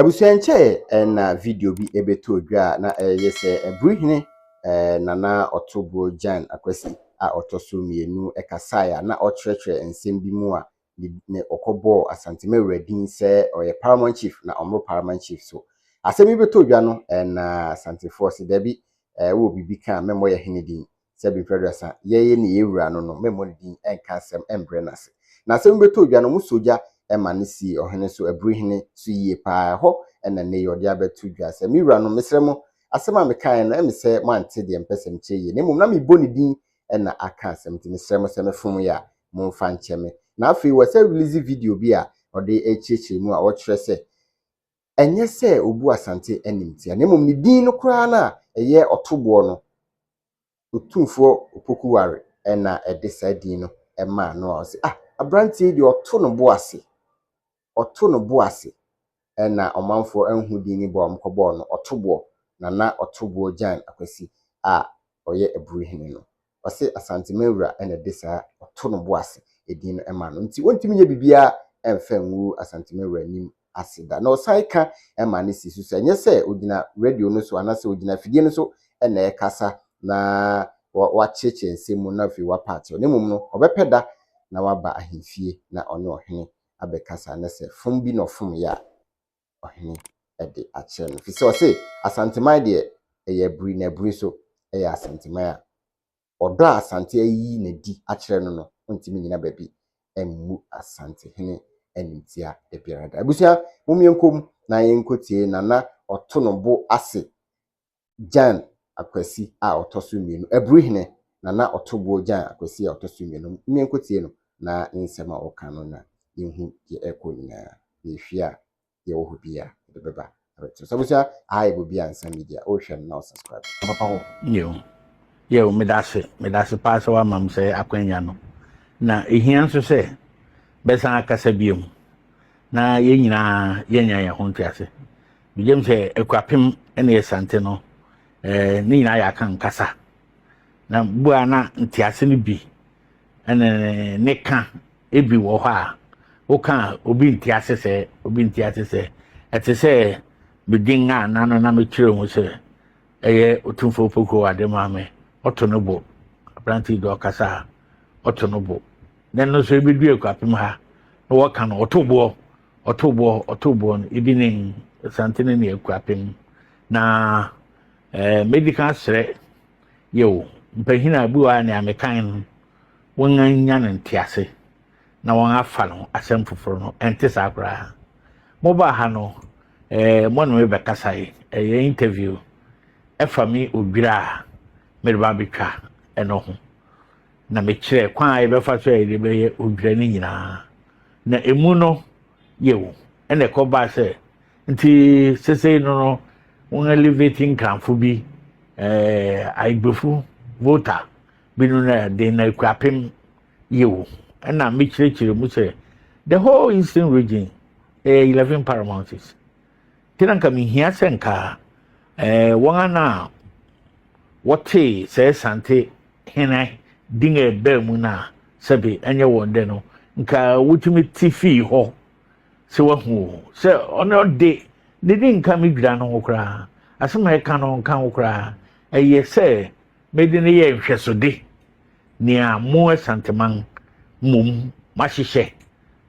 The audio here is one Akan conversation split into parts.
Abusua nkyɛe na video bi ɛbɛtɔ dwa a na ɛyɛ sɛ ɛburu hene eh, Nana Ɔtoboɔ Jan Akwasi a ɔtɔ so mmienu kasaeɛ a na ɔkyerɛkyerɛ nsɛm bi mu a ne ne ɔkɔbɔɔ Asante Mawura din sɛ ɔyɛ Paramount Chief na ɔmmoro Paramount Chief so. Asɛm yi bɛtɔ dwa no eh, na Asantefoɔ se dabi eh, wowɔ biribi ka a mɛmmɔ yɛ hene din. sɛ bere mfe aduasa, yɛyɛ nea yɛn wura no no, memmɔ ne din, nka asɛm, mbrɛ no ase. Na sɛ mobɛtɔ ogya no, mosɔ gya ma no sie ɔhene so, aburi hene so yie paa. Ɛhɔ na nnɛ yi ɔde abɛto dwa sɛ, Me wuranom, mesrɛ mo, asɛm a mekaeɛ no, ɛme sɛ moante deɛ mepɛ sɛ mekyerɛ yie, na mmom na mebɔ ne din na aka asɛm, nti mesrɛ mo sɛ mefom yɛ a, momfa nkyɛ me. Na afei wɔsan release video bi a ɔde rekyerɛkyerɛ mu a ɔkyerɛ sɛ, ɛnyɛ sɛ obu Asante animtia, na mmom ne din no koraa no a ɛyɛ ɔtoboɔ no, Otumfoɔ Opoku Ware na ɛde saa din no maa no a ɔse ah, aberanteɛ yi deɛ ɔto no bo ase, ɔto no bo ase. Ɛna ɔmanfoɔ anhu din no bi a wɔkɔbɔɔ no Ɔtoboɔ, Nana Ɔtoboɔ Gyan Akwasi a ɔyɛ Aburi Hene no. Ɔse Asantema awura na de saa ɔto no bo ase edin no ma no nti ontumi nyɛ biribiara ɛnfa ngu Asantema awura nim ase da. Na ɔsan ka ma no si so sɛ ɛnyɛ sɛ ogyina radio no so anasɛ ogyina afidie no so na ɛkasa na wakyerekyere nsɛm mu na afei wapa akyerɛ na mmom no ɔbɛpɛ da na waba ahemfie na ɔne ɔhene abɛkasa na sɛ fom bi na ɔfom yɛ a ɔhene de akyerɛ no. Ɛfiri sɛ ɔse, Asanteman deɛ, ɛyɛ abiri na abiri nso yɛ Asanteman a. Ɔdɔ a Asante ayi no adi akyerɛ no no, ɔntumi nnyina baabi mmu Asantehene animtia da biara da. Abusua, mom yɛnkɔ mu na yɛnkɔtie Nana Ɔtono bo ase Jan Akwasi a ɔtɔ so mmienu, Aburuhene Nana Ɔtoboɔ Jan Akwasi a ɔtɔ so mmienu, mmea nkotie no na nsɛm a ɔka no na yɛhu deɛ ɛrekɔ nyinaa, na ɛfie a yɛwɔ hɔ biara yɛde bɛba abɛkyerɛ. So abusua, aha yɛ Bobi Ansah Media, wohwɛ no na wo subscribe, ka papa ho. Yiw, yiw, meda ase, meda ase paa sɛ woama me sɛɛ akwanya no, na ɛhia nso sɛ bɛsan akasa biom na yɛn nyinaa yɛanya yɛn ho ntease. Megye m sɛ Akuapem ne Asante no, eh, ne nyinaa yɛ aka nkasa. Na bu a na ntease no bi ne ne ka ebi wɔ hɔ a, woka a obi nte ase sɛ, obi nte ase sɛ. Ɛte sɛ medin a na no na mekyerɛ mu sɛ ɛyɛ Otumfoɔ Pokurow ade maa me. Ɔto no bo. Aberante yi de ɔkasa a, ɔto no bo. Na ɛno nso ebedu Akuapem ha na wɔka no, ɔto boɔ. Ɔtoboɔ, ɔtoboɔ no, ebi ne Asantene ne Akuapem. Na eh, mɛdi kan asrɛ yɛo mpanyin a bi wɔ a nea mekan no wɔanya no ntease na wɔn afa no asɛm foforɔ no ɛnte saa koraa mobaa ha no eh, mo ne me bɛkasae ɛyɛ interview ɛfa me odwira a mede ba bɛtwa ɛno ho na mekyerɛ kwan a yɛbɛfa so a yɛde bɛyɛ odwira no nyinaa na emu no yew, ɛna ɛkɔbaa sɛ nti sesei no no wɔn elevate nkranfo bi ɛɛ ayigbefo voter bi no na ɛde na ekura pem yew ɛna mekyerɛkyerɛ mu sɛ the whole eastern region ɛyɛ eleven paramounties. nti na nka mehia sɛ nka eh, wɔn a na wɔtee sɛ sante hene din a ɛbaa mu no a sɛbe ɛnyɛ wɔn dɛ no nka wotumi te fii hɔ sɛ wahu o sɛ ɔne ɔde ne de nka me dwira no ho koraa asɛm a ɛka no nka ho koraa ɛyɛ sɛ mede no yɛ nhwɛsode nea mo asanteman mmom mahyehyɛ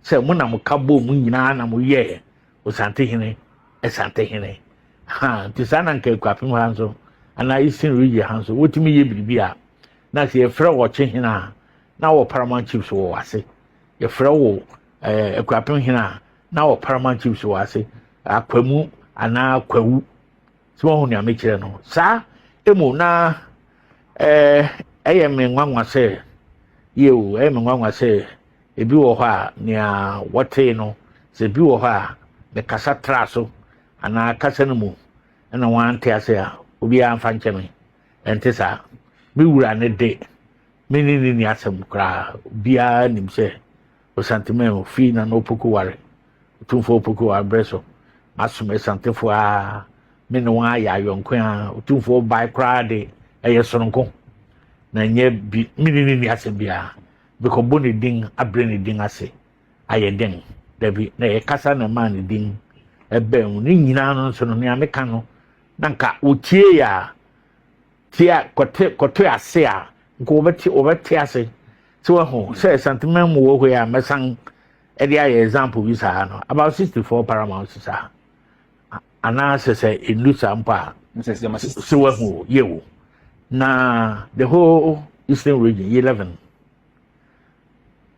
sɛ mo na mo ka bɔ mu nyinaa na mo yɛ Osantehene, Asantehene. Ha, nti saa na nka Akuapem ha nso, anaa Eastern region ha nso, wotumi yɛ biribi a, na sɛ yɛfrɛ wɔ ɔkyehene a, na wɔ Paramount Chiefs wɔ wase. Yɛfrɛ wɔ eh, Akuapem hene a, na wɔ Paramount Chiefs wɔ ase. Akwamu anaa Akwawu. sɛ wɔn ho nea mekyerɛ no saa emu na ɛɛ ɛyɛ me nwanwa sɛ yie o ɛyɛ me nwanwa sɛ ebi wɔ hɔ a nea wɔtee no sɛ ebi wɔ hɔ a mekasa tra so anaa kasa no mu ɛna wɔn ante ase a obiara nfa nkyɛn me ɛnte saa me wura ne de me ne ne ni asɛm koraa obiara nim sɛ Osanteman ofii Nana Opoku ware. Otumfoɔ Opoku wɔ aberɛ so. Masom Asantefoɔ aa. Me ne wɔn ayɛ ayɔnko aa. Otumfoɔ bae koraa de ɛyɛ soronko. Na nyɛ bi me ne ne ni asɛm biara. Mekɔbɔ ne din abrɛ ne din ase ayɛ den. Dabi na ɛyɛ kasa na ɛmaa ne din ɛbɛn mu. Ne nyinaa no nso no nea meka no na nka wɔtie a tia kɔte kɔte ase a nka wɔbɛte wɔbɛte ase sɛ wahu hmm. sɛ santeman mu wɔ hɔ yi a mɛsan ɛde ayɛ example bi saa no about sixty four paramount saa anaasɛ sɛ ɛnu saa mpo a sɛ wahu yɛ wo na the whole eastern region yɛ eleven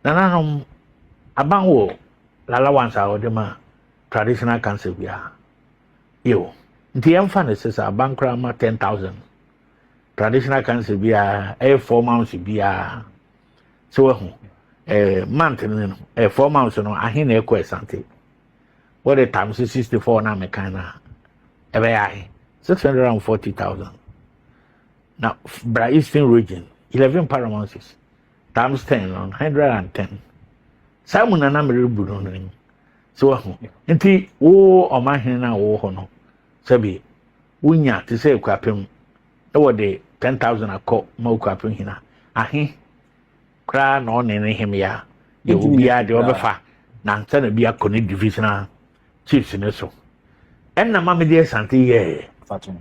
nananom aban wɔ lalawansa a wɔde ma traditional council biara yo nti yɛmfa no sɛ sɛ abankora ma 10000 traditional cancer biara ɛyɛ 4 months biara sɛ wahu eh, month no no eh, 4 months no ahe na ɛkɔ asante wɔde tam sɛ 64 no a mekan no a ɛbɛyɛ ahe 640000 na bra eastern region 11 paramounces times 10 no 110 saa mu na na merebu no no so wahu nti wo ɔmahene no a wowɔ hɔ no sɛbi wonya te sɛ akuapem na wɔde 10000 akɔ ma okuapem hena ahe koraa na ɔne ne hemea deɛ obiara deɛ ɔbɛfa na ansa na bi akɔ ne divisional chiefs ne so ɛnna ma mede asante yɛɛ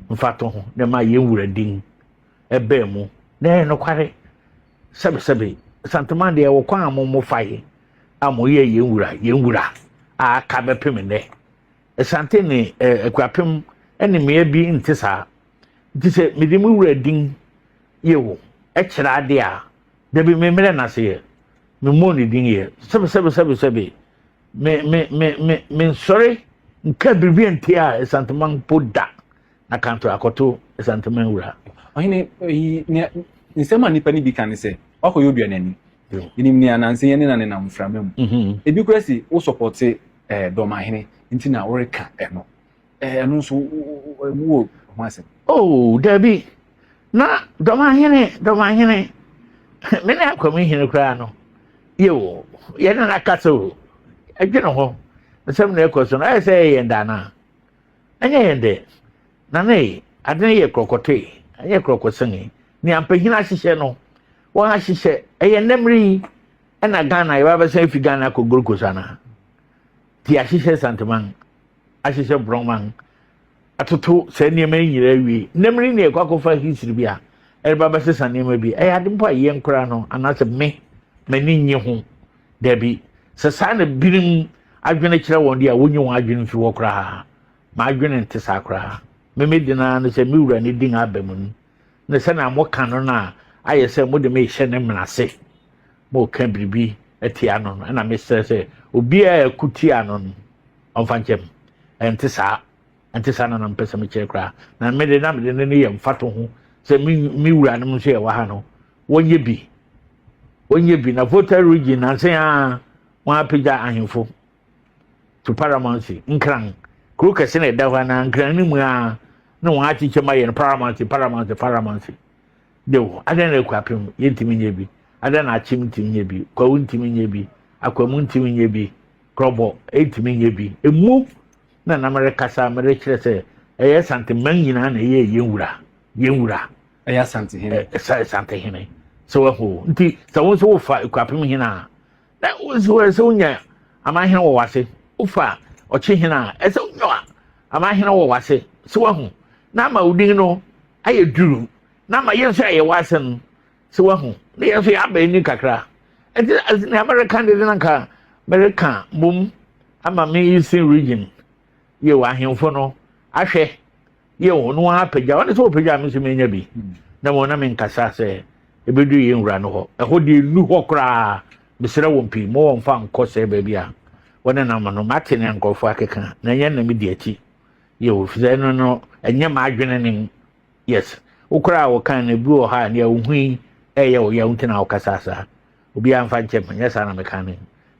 mfato ho na ma yɛn wura din ɛbɛɛ mu na ɛyɛ nokware sɛbesɛbe santoma deɛ wɔ kwan a mo mo fa yi a mo yɛ yɛn wura yɛn wura a aka bɛpem nnɛ asante ne ɛɛ akurapem ɛne mmea bi nte saa nti sɛ mede mo wura din yɛ wo ɛkyerɛ ade a dabi me mmerɛ n'ase yɛ me mmɔ ne din yɛ sɛbe sɛbe sɛbe sɛbe me me me me me nsɔre nka biribi a nti a asantoma mpo da Na kanto akɔto Chrysanthemum wura. Ɔhene, eyi, nea, nsɛm a nnipa no bi ka ne sɛ, Woakɔyɛ oduanani. Yenim nea nanse yɛne no nenam mframa mu. Mm-hmm. Ebi koraa se wosɔpɔte eh, Dɔmahene nti na woreka ɛno. Eh, ɛno nso, wowɔ ho asɛm. Oh, dabi. Na Dɔmahene, Dɔmahene, me ne Akwame Hene koraa no, yeo, yɛne no akasa o. Ɛdwene hɔ, nsɛm na ɛkɔ so no, ayɛ sɛ ɛyɛ yɛn daanaa. Ɛnyɛ yɛn dɛ, na ne ade no yɛ korɔkɔtɔe, ɛnyɛ korɔkɔsɛnee. Nea mpanyin ahyehyɛ no, wɔahyehyɛ. Ɛyɛ nnɛ mmere yi ɛna Ghana yɛba bɛsan afi Ghana akɔ Gold Coast anaa? Ti ahyehyɛ Santeman, ahyehyɛ Brɔman, atoto saa nneɛma yi nyinaa awie. Nnɛ mmere nea ɛkɔ akɔfa history bi a ɛreba bɛsesa nneɛma bi. Ɛyɛ ade mpo a yɛn koraa no anaasɛ me m'ani nnye ho. Dabi, sɛ saa na binom adwene kyerɛ wɔn de a, wonyi wɔn adwene mfi hɔ koraa. M'adwene nte saa koraa. Me me den ara ne sɛ me wura ne din aba mu no, ne sɛ na moka no no a ayɛ sɛ mode me rehyɛ ne mmena ase. Moreka biribi atia no no, ɛna mesrɛ sɛ obiara a ɛko tia no no, ɔmfa nkyɛm. Ɛnte saa. ɛnte saa na na mepɛ sɛ mekyerɛ koraa na me de na mede no no yɛ mfato ho sɛ me me wuranom nso yɛ wɔ ha no wɔnyɛ bi wɔnyɛ bi na volta region nansen a wɔn apagya ahemfo to paramountcy nkran kuro kɛse na ɛda hɔ anaa nkran no mu a na wɔn akyekyɛ ma yɛ no paramountcy paramountcy paramountcy de wo adan na akɔ apem yɛntumi nyɛ bi adan na akyem ntumi nyɛ bi kwawu ntumi nyɛ bi akwamu ntumi nyɛ bi korɔbɔ ntumi nyɛ bi emu. na na merekasa merekyerɛ sɛ ɛyɛ santeman nyinaa na ɛyɛ yɛn wura yɛn wura ɛyɛ asantehene ɛsɛ asantehene sɛ wahu nti sɛ wo nso wofa ekwapem hene a na wo nso ɛsɛ wonya amanhene wɔ wase wofa ɔkye hene a ɛsɛ wonya amanhene wɔ wase sɛ wahu na ama wo din no ayɛ duru na ama yɛn nso ayɛ w'asɛm So wahu? Me yɛn nso yɛ aba ani kakra. Ɛti ɛti nea mɛreka de de na nka mɛreka mom ama me eastern region yɛ wɔ ahemfo no ahwɛ yɛ wɔn no apagya wɔn nso wɔpagya me nso menya bi na wɔn na me nkasa sɛ ebedu yɛn wura no hɔ ɛhɔ deɛ nu hɔ koraa mesrɛ wɔn pii mo wɔn fa nkɔ sɛ baabi a wɔne nam no mate ne nkurɔfoɔ akeka na ɛnyɛ na me di akyi yɛ wɔ fisɛ no no ɛnyɛ m'adwene ne mu yes wo koraa wo kan no bi wɔ hɔ a nea wohui ɛyɛ wo yaw nti na wokasa saa obiara mfa nkyɛ me nyɛ saa na meka no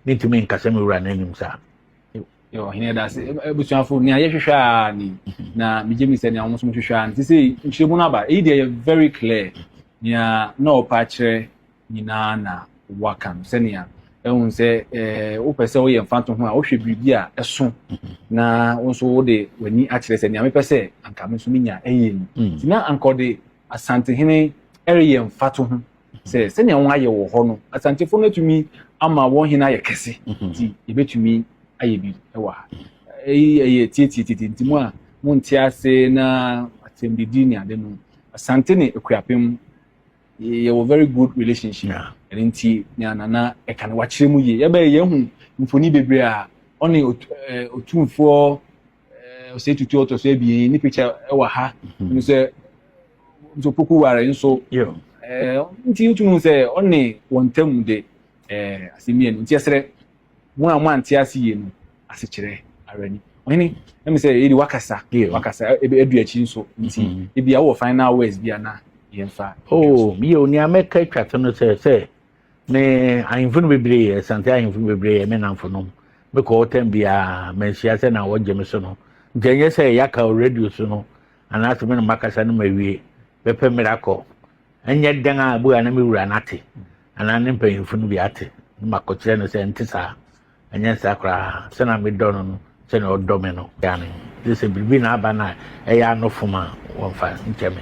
mentumi nkasa me wura no anim saa ɔhene da ase abusuafo nea yɛhwehwɛ a ni na megye me sɛ nea wɔn nso hwehwɛ a nti sɛ nkyerɛmu no aba eyi deɛ yɛ very clear nea na ɔpa kyerɛ nyinaa na waka no sɛnea ɛhu sɛ ɛɛ wopɛ sɛ woyɛ mfanto ho a wohwɛ biribi a ɛso mhm. na wo nso wode w'ani akyerɛ sɛ nea mepɛ sɛ anka me nso menya ɛyɛ ni mm. nti na anka ɔde asantehene ɛreyɛ mfato ho sɛ mhm. sɛnea wɔn ayɛ wɔ hɔ no asantefo no atumi ama wɔn hene ayɛ kɛse mhm. nti yɛbɛtumi ayɛ bi ɛwɔ ha ɛyi ɛyɛ tietie tete nti mu a monte ase na asɛmdidi ne ade no asante ne akuapem yɛwɔ very good relationship yeah. ɛno nti ne anana ɛka no wakyerɛ mu yie yɛbɛyɛ yɛhu mfoni bebree a ɔne ɔtumfoɔ ɔsɛ tutu ɔtɔ so abien ne picture ɛwɔ ha ɛno sɛ nso poku ware nso nti wotumi sɛ ɔne wɔn ntam de asɛm mmienu nti ɛserɛ Mo a moante ase yie no asekyerɛ ara ni. Ɔhene, na me sɛ yɛde wakasa, wakasa, adu akyi nso, nti mm-hmm. ebi a wowɔ final words bi a na yɛmfa. Oh, yɛ o, nea mɛka atwa to no sɛ sɛ me ahemfo no bebree yɛ, sante ahemfo no bebree yɛ me namfo nom. Mekɔ ɔtɛm biara, manhyia sɛ na wɔgye me so no. Nti ɛnyɛ sɛ yɛaka wɔ radio so no, anaasɛ me na makasa no mawie, bɛpɛ mmerɛ akɔ. Ɛnyɛ dɛn a bu a na me wura no ate. anaa ne mpanyimfo no bi ate na makɔkyerɛ no sɛ ɛnte saa ɛnyɛ saa koraa sɛnea medɔ no no sɛnea ɔdɔ me no gya ne gye sɛ biribi na aba no a ɛyɛ anofom a wɔmfa nkyɛ me